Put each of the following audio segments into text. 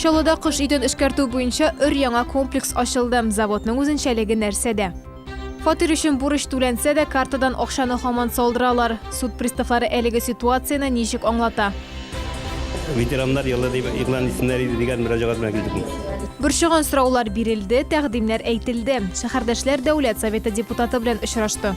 Чаллыда кыш өйдән эшкәртү буенча өр-яңа комплекс ачылды. Заводның үзенчәлеге нәрсәдә? Фатир өчен бурыч түләнсә дә, картадан акчаны хаман салдыралар. Суд приставлары әлеге ситуацияне ничек аңлата? Ветераннар елы дип игълан итсеннәр иде дигән мөрәҗәгать белән килдек. Борчыган сораулар бирелде, тәкъдимнәр әйтелде. Шәһәрдәшләр Дәүләт Советы депутаты белән очрашты.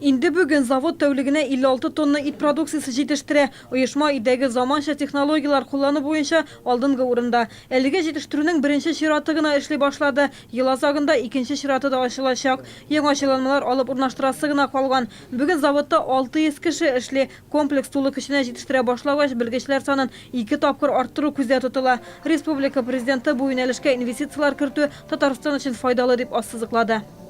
Инде бүген завод тәүлегенә 56 тонна ит продукциясе җитештерә. Оешма өйдәге заманча технологияләр куллану буенча алдынгы урында. Әлегә җитештерүнең беренче чираты гына эшли башлады. Ел азагында икенче чираты да ачылачак. Яңа җайланмалар алып урнаштырасы гына калган. Бүген заводта 600 кеше эшли. Комплекс тулы көченә җитештерә башлагач, белгечләр санын ике тапкыр арттыру күздә тотыла. Республика Президенты бу юнәлешкә инвестицияләр кертү Татарстан өчен файдалы дип ассызыклады.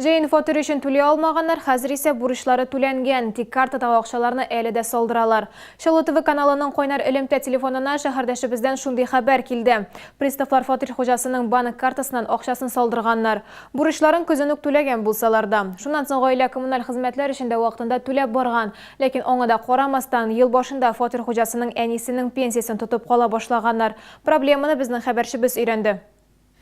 Җәен фатир өчен түли алмаганнар, хәзер исә бурычлары түләнгән, тик картадагы акчаларны әле дә салдыралар. Чаллы ТВ каналының кайнар элемтә телефонына шәһәрдәшебездән шундый хәбәр килде. Приставлар фатир хуҗасының банк картасыннан акчасын салдырганнар. Бурычларын көзен үк түләгән булсалар да. Шуннан соң гаилә коммуналь хезмәтләр өчен дә вакытында түләп барган. Ләкин аңа да карамастан, ел башында фатир хуҗасының әнисенең пенсиясен тотып кала башлаганнар. Проблеманы безнең хәбәрчебез өйрәнде.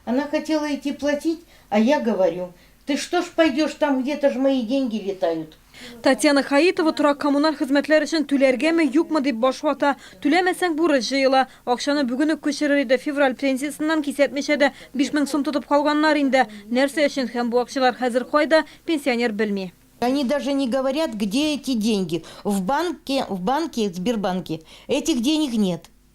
Она хотела идти платить, а я говорю, ты что ж пойдешь, там где-то ж мои деньги летают. Татьяна Хаитова торак-коммуналь хезмәтләр өчен түләргәме, юкмы дип баш вата. Түләмәсәң, бурыч җыела. Акчаны бүген үк күчерер иде, февраль пенсиясеннән кисәтмичә дә, 5000 сум тотып калганнар инде. Нәрсә өчен һәм бу акчалар хәзер кайда, пенсионер белми. Они даже не говорят, где эти деньги. В банке, в банке, Сбербанке этих денег нет.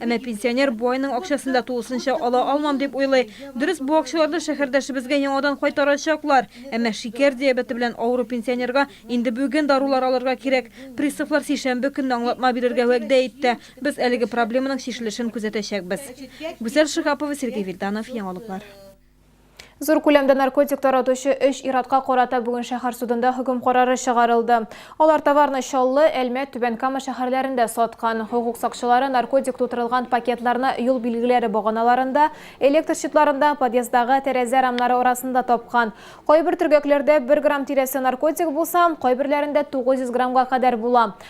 Әмма пенсионер бу айның акчасын да тулысынча ала алмам дип уйлый. Дөрес, бу акчаларны шәһәрдәшебезгә яңадан кайтарачаклар. Әмма шикәр диабеты белән авыру пенсионерга инде бүген дарулар алырга кирәк. Приставлар сишәмбе көнне аңлатма бирергә вәгъдә итте. Без әлеге проблеманың чишелешен күзәтәчәкбез. Гүзәл Шиһапова, Сергей Вильданов, Яңалыклар. Зур күләмдә наркотик таратучы өч иратка карата бүген шәһәр судында хөкем карары чыгарылды. Алар товарны Чаллы, Әлмәт, Түбән Кама шәһәрләрендә саткан. Хокук сакчылары наркотик тутырылган пакетларны юл билгеләре баганаларында, электр щитларында, подъездагы тәрәзә рамнары арасында тапкан. Кайбер төргәкләрдә бер грамм тирәсе наркотик булса, кайберләрендә 900 граммга кадәр була.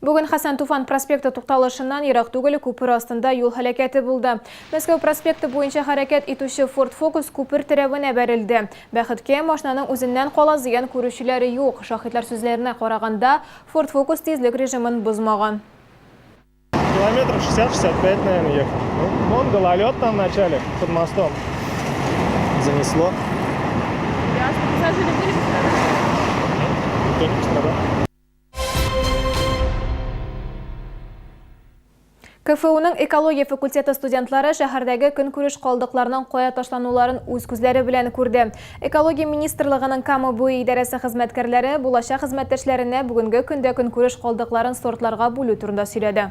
Бүген Хәсән Туфан проспекты тукталышыннан ерак түгел күпер астында юл һәлакәте булды. Мәскәү проспекты буенча хәрәкәт итүче Ford Focus күпер терәвенә бәрелде. Бәхеткә, машинаның үзеннән кала зыян күрүчеләре юк. Шаһитлар сүзләренә караганда, Ford Focus тизлек режимын бозмаган. Километров 60-65, наверное, ехал. Ну, вон гололед там в начале, под мостом. Занесло. Ясно. Пассажиры были? Никто не пострадал. КФУның экология факультеты студентлары шәһәрдәге көнкүреш калдыкларының кая ташлануларын үз күзләре белән күрде. Экология министрлыгының Кама буе идарәсе хезмәткәрләре булачак хезмәттәшләренә бүгенге көндә көнкүреш калдыкларын сортларга бүлү турында сөйләде.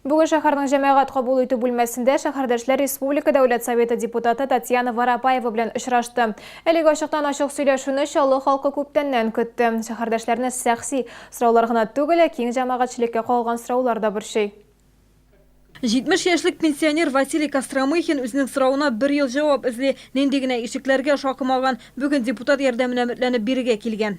Бүген шәһәрнең җәмәгать кабул итү бүлмәсендә шәһәрдәшләр республика дәүләт советы депутаты Татьяна Воропаева белән очрашты. Әлеге ачыктан-ачык сөйләшүне Чаллы халкы күптәннән көтте. Шәһәрдәшләрне сәхси сораулар гына түгел, ә киң җәмәгатьчелеккә кагылган сораулар да борчый. 70 яшьлек пенсионер Василий Костромыхин үзенең соравына бер ел җавап эзли. Нинди генә ишекләргә шакымаган, бүген депутат ярдәменә өметләнеп бирегә килгән.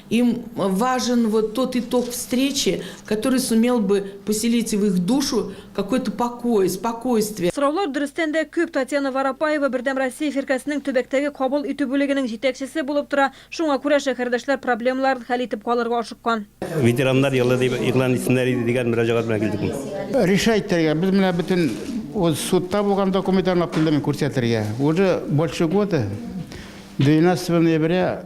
Им важен вот тот итог встречи, который сумел бы поселить в их душу какой-то покой, спокойствие. Сораулар дөрестән дә күп. Татьяна Воропаева Бердәм Россия фиркасенең төбәктәге кабул итү бүлегенең җитәкчесе булып тора, шуңа күрә шәһәрдәшләр проблемаларын хәл итеп калырга ашыккан. Ветераннар елы дип игълан итсеннәр иде дигән мөрәҗәгать белән килдек мин. Решать итәргә, без менә бөтен үз судта булган документларны аптыйдым мин күрсәтергә. Уже больше года, 12 ноября,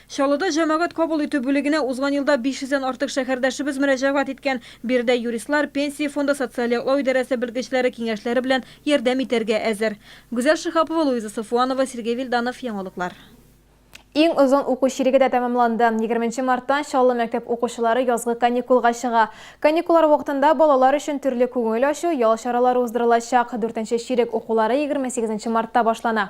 Чаллыда җәмәгать кабул итү бүлегенә узган елда 500 дән артык шәһәрдәшебез мөрәҗәгать иткән. Биредә юристлар, Пенсия фонды социаль яклау идарәсе белгечләре киңәшләре белән ярдәм итәргә әзер. Гүзәл Шиһапова, Луиза Сафуанова, Сергей Вильданов, Яңалыклар. Иң озын уку чиреге дә тәмамланды. Егерменче марттан Чаллы мәктәп укучылары язгы каникулга чыга. Каникуллар вакытында балалар өчен төрле күңел ачу, ял чаралары уздырылачак. Дүртенче чирек укулары егерме сигезенче мартта башлана.